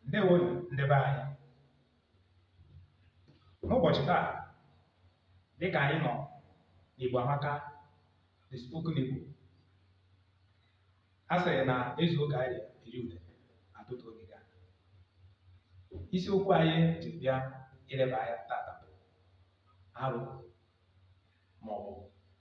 ndewonu ndị be anyị n'ụbọchị taa dịka anyị nọ n'Igbo Amaka the spoken Igbo a sịrị na ezu ụka anyị eri ude atụtụ oge ga isiokwu anyị ji bịa ileba anya tata bụ arụ ma ọ bụ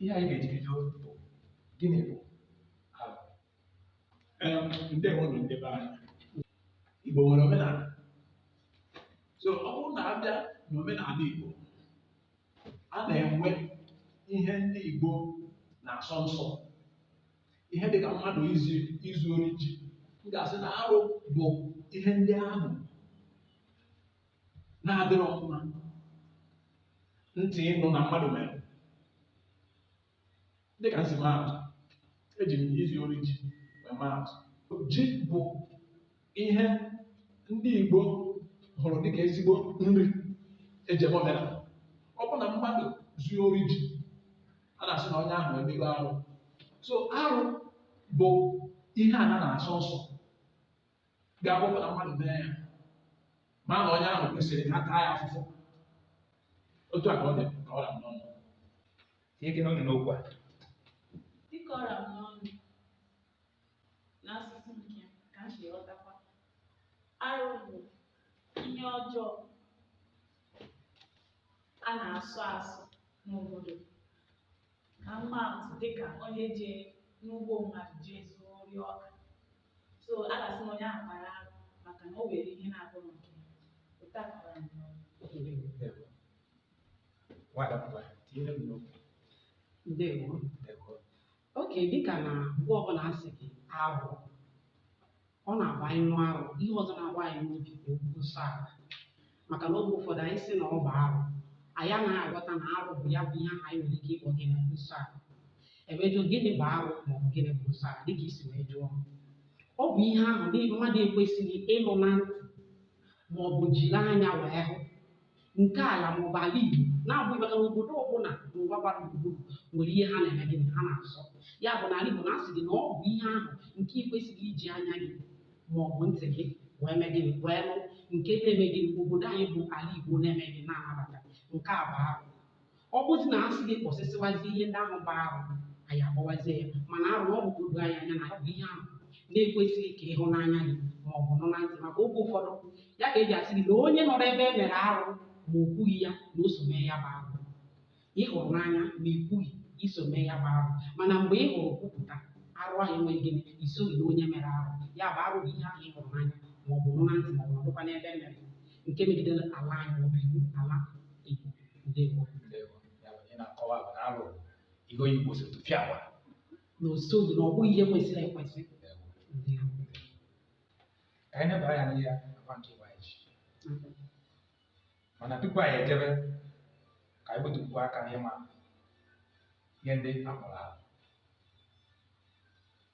ihe anyị ga-eji bido bụ gịnị bụ arụ Em, ndewonu ndị be anyị igbo nwere omenala so ọ bụrụ na abịa n'omenala igbo a na-enwe ihe ndị igbo na-asọ nsọ ihe dịka mmadụ izu izu ori ji m ga-asị na arụ bụ ihe ndị ahụ na-adịrọ mma ntị ịnụ na mmadụ mere dịka m si maatụ eji m izu ori ji wee maatụ ji bụ ihe ndị Igbo hụrụ dịka ezigbo nri eji eme omenala ọ bụ na mmadụ zuo ori ji a na-asị na onye ahụ emego arụ so arụ bụ ihe ana na-asọ nsọ ga-akpọpụta mmadụ mee ya ma na onye ahụ kwesịrị ka a taa ya afụfụ otu a ka ọ dị ka ọ ra m n'ọnụ tinyekene ọnụ n'okwu a dịka ọ ra m n'ọnụ n'asụsụ nke m ka m si ghọtakwa arụ bụ ihe ọjọọ a na-asọ asọ n'obodo ka m maa atụ dịka onye jee n'ugbo mmadụ jee zuo ori ọka so a ga-asị na onye ahụ kpara arụ maka na o were ihe na-abụrọ nke ya otu a ka ọ dị m n'ọnụ. Nwada mgbe tinyere m n'okwu ndewo ndewo oke dịka na mgbe ọbụla a sị gị arụ Ọ na-abụ anyị nụ arụ. Ihe ọzọ na-agba anyị n'obi bụ okwu nsọ ala. Maka na oge ụfọdụ anyị sị na ọ bụ arụ, anyị anaghị aghọta na arụ bụ ya bụ ihe ahụ anyị nwere ike ịkpọ gịnị bụ nsọ ala. E wee jụọ gịnị bụ arụ ma ọ bụ gịnị bụ nsọ ala dịka i si wee jụọ. Ọ bụ ihe ahụ na mmadụ ekwesịghị ịnụ na ntị ma ọ bụ jiri anya wee hụ. nke ala ma ọ bụ ala Igbo na-abụghị maka na obodo ọbụla n'ụwa gbara gburugburu nwere ihe ha na-eme gịnị ha na-asọ ya bụ na ala Igbo na-asị gị na ọ bụ ihe ahụ nke ị kwesịghị iji anya gị ma ọ bụ ntị gị wee mee gịnị wee nụ nke na-eme gịnị obodo anyị bụ ala Igbo na-eme gịnị na-anabata nke a bụ arụ ọ bụzi na asị gị kpọsịsịwazi ihe ndị ahụ bụ arụ anyị agbawazie ya mana arụ ọ bụ ka o doo anyị anya na ọ bụ ihe ahụ na-ekwesịghị ka ị hụ n'anya gị ma ọ bụ nụ na ntị maka oge ụfọdụ ya ka eji asị gị na onye nọrọ ebe e mere arụ ma o kwughị ya na o so mee ya bụ arụ ị hụrụ n'anya ma ị kwughị i so mee ya bụ arụ mana mgbe ị hụrụ kwupụta arụ ahụ enweghị gịnị i soghị na onye mere arụ ya bụ arụ bụ ihe ahụ ị hụrụ n'anya ma ọ bụ nụ na ntị ma ọ bụ nọdụkwa n'ebe e mere nke megidere ala anyị ma ọ bụ iwu ala Igbo ndewo Ndewo. Ya bụ, ị na-akọwa bụ na arụ ihe onye Igbo sịrị tụfịakwa. na o soghị na ọ bụghị ihe kwesịrị ekwesị Ndewo. ndewo Ka anyị nebara ya n'ihe akwa nke Igbo anyị ji. Mana tupu anyị ejebe, ka anyị metụtụ aka n'ịma ihe ndị a kpọrọ arụ.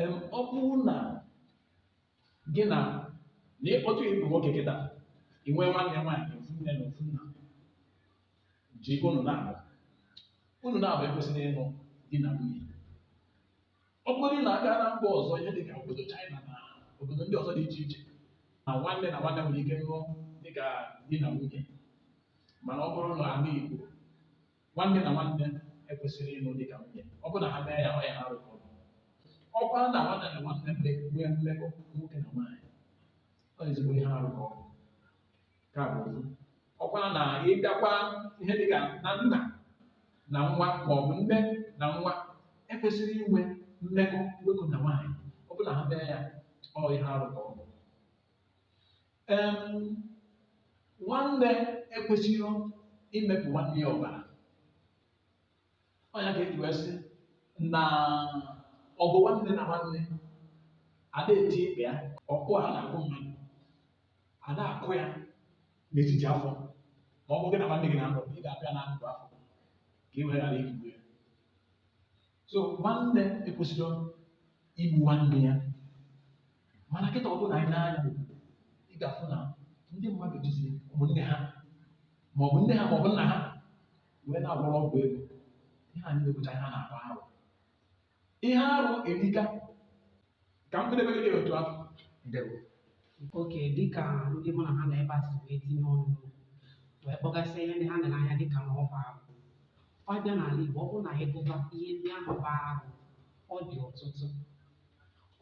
em ọ bụrụ na gị na na ịkpọtụ ị bụrụ nwoke kịta ị nwee nwanne nwaanyị ofu nne na ofu nna ji unu naabọ unu naabọ ekwesịrọ ịnụ di na nwunye ọ bụrụ na a gaa na mba ọzọ ihe dịka obodo China na obodo ndị ọzọ dị iche iche na nwanne na nwanne nwere ike nụọ dịka di na nwunye mana ọ bụrụ na ala Igbo nwanne na nwanne ekwesịrọ ịlụ dị ka nwunye ọ bụrụ na ha mee ya ọ ihe arụ ka ọ bụ ọ bụrụ na nwanne na nwanne nwee mmekọ nwoke na nwaanyị ọ ezigbo ihe arụ ka ọ bụ ka bụ ofu ọ bụrụ na ị bịakwa ihe dị ka na nna na nwa ma ọ bụ nne na nwa ekwesịrọ inwe mmekọ nwoke na nwaanyị ọ bụrụ na ha mee ya ọ ihe arụ ka ọ bụ nwanne ekwesịrọ imepụ nwanne ya ọbara ọ nya ka eji wee sị na ọgụ nwanne na nwanne ada eti ikpe ya ọkụ a na-akụ mmadụ a na-akụ ya n'etiti afọ ma ọgụ gị na nwanne gị na-anụ ị ga-abịa na ndụ afọ ka ị wee ghara igbu ya so nwanne ekwesịrọ igbu nwanne ya mana kịta ọ bụrụ na ị nee anya ị ga-afụ na ndị mmadụ jizi ụmụnne ha ma ọ bụ nne ha ma ọ bụ nna ha wee na-agwọrọ ọgwụ ego ihe a niile bụcha ihe a na-akpọ arụ ihe arụ erika ka m kpedebe gị otu ahụ ndewo okay dịka ndị mụ na ha nọ ebe a si wee tinye ọnụ wee kpọgasịa ihe ndị ha nere anya dịka na ọ bụ arụ a bịa n'ala Igbo ọ bụrụ na anyị gụba ihe ndị ahụ bụ arụ ọ dị ọtụtụ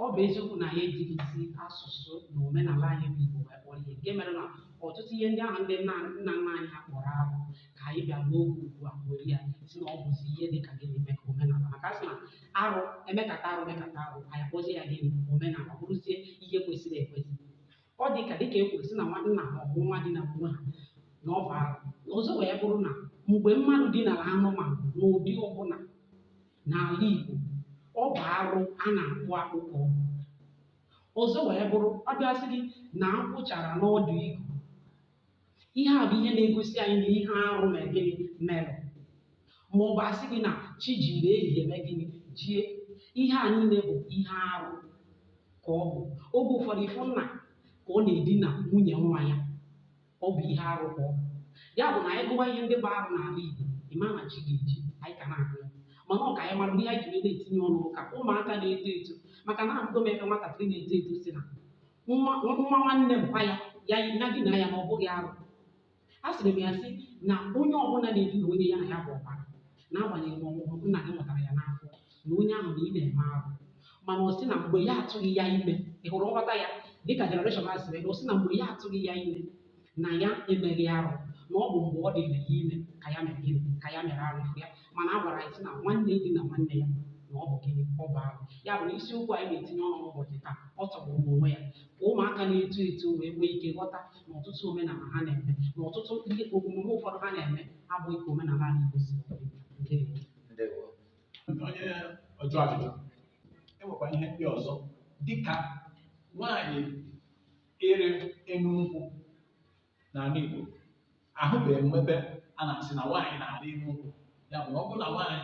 ọ bụ eziokwu na anyị ejighịzi asụsụ na omenala anyị bụ Igbo wee kpọrọ ihe nke mere na ọtụtụ ihe ndị ahụ ndị nna nna nna anyị ha kpọrọ arụ ka anyị bịa n'oge ugbu a were ya sị na ọ bụzi ihe dị ka gịnị mee ka omenala maka a sị na arụ e mekata arụ mekata arụ anyị akpọzie ya gịnị omenala ọ bụrụzie ihe kwesịrị ekwesị ọ dị ka dịka e kwuru sị na nwa nna ma ọ bụ nwa dina onwe ha na ọ bụ arụ ọzọ wee bụrụ na mgbe mmadụ dinara anụmanụ n'ụdị ọbụla n'ala Igbo ọ bụ arụ a na-akpụ akpụ ka ọ bụ ọzọ wee bụrụ a bịa sị gị na akwụ chara n'ọdụ igu ihe a bụ ihe na-egosi anyị na ihe arụ mere gịnị mere ma ọ bụ a sị gị na chi jiri ehihie mee gịnị jie ihe a niile bụ ihe arụ ka ọ bụ oge ụfọdụ ị fụ nna ka ọ na-edina nwunye nwa ya ọ bụ ihe arụ ka ọ bụ ya bụ na anyị gụwa ihe ndị bụ arụ n'ala Igbo ị ma na chi ga-eji anyị ka na-agụ ya mana ọ ka anyị mara ihe anyị ji wee na-etinye ọnụ ka ụmụaka na-eto eto maka na ahụgo m ebe nwatakịrị na-eto eto si na nwa nwa nwanne mpa ya ya na-edina ya na ọ bụghị arụ asịrị m ya sị na onye ọbụla na-edina onye ya na ya bụ ọbara n'agbanyeghị ma ọ bụ nna gị mụtara ya n'afọ na onye ahụ na ị na-eme arụ mana ọ sị na mgbe ya atụghị ya ime ị hụrụ nghọta ya dịka generation a sịrị na ọ sị na mgbe ya atụghị ya ime na ya emeghị arụ na ọ bụ mgbe ọ dịrị ya ime ka ya mere gịnị ka ya mere arụ ya mana a gwara anyị sị na nwanne dina nwanne ya na ọ bụ gịnị ọ bụ arụ ya bụ na isiokwu anyị na-etinye ọnụ n'ụbọchị taa ọ tọgburu onwe ya ka ụmụaka na-eto eto wee nwee ike ghọta na ọtụtụ omenala ha na-eme na ọtụtụ ihe omume ụfọdụ ha na-eme abụghị ka omenala anyị Igbo si dị. Ndewo. ndewo onye ọjụ ajụjụ enwekwa ihe ndị ọzọ dịka nwaanyị ịrị enu nkwụ n'ala Igbo ahụbeghị m ebe a na-asị na nwaanyị na-arị enu nkwụ ya bụ na ọ bụrụ na nwaanyị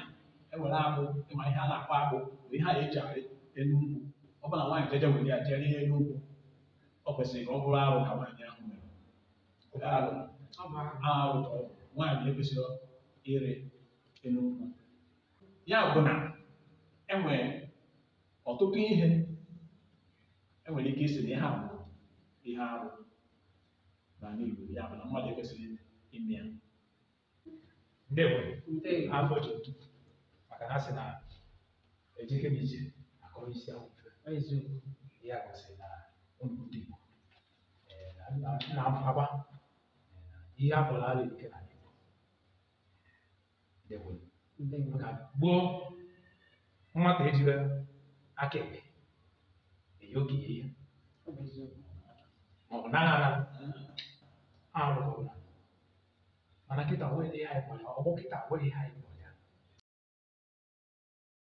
ewere agbụ ị ma ihe a na-akpọ agbụ bụ ihe a eji arị enu nkwụ ọ bụrụ na nwaanyị jeje were ya jee rịa enu nkwụ ọ kwesịrị ka ọ bụrụ arụ ka nwaanyị ahụ mere arụ Ọ bụ arụ. arụ ka ọ bụ nwaanyị ekwesịghị ịrị enu nkwụ ya bụ na enwere ọtụtụ ihe enwere ike ịsị na ihe a bụ ihe arụ n'ala Igbo ya bụ na mmadụ ekwesịghị ime ya ndewo afọ ji otu maka na a sị na ejike m ije akọrọ isi ahụ mfe eziokwu ya gosi na ụmụ ndị Igbo eh, na- na- na-agba eh, na ihe a kpọrọ ala ike na maka gboo nwata ejirọ aka ekpe enye okenye ihe maọbụ na aghara arụ ọbụla mana kịta nwere ihe anyị kpọrọ ya ọgbọ kịta nwere ihe anyị kpọrọ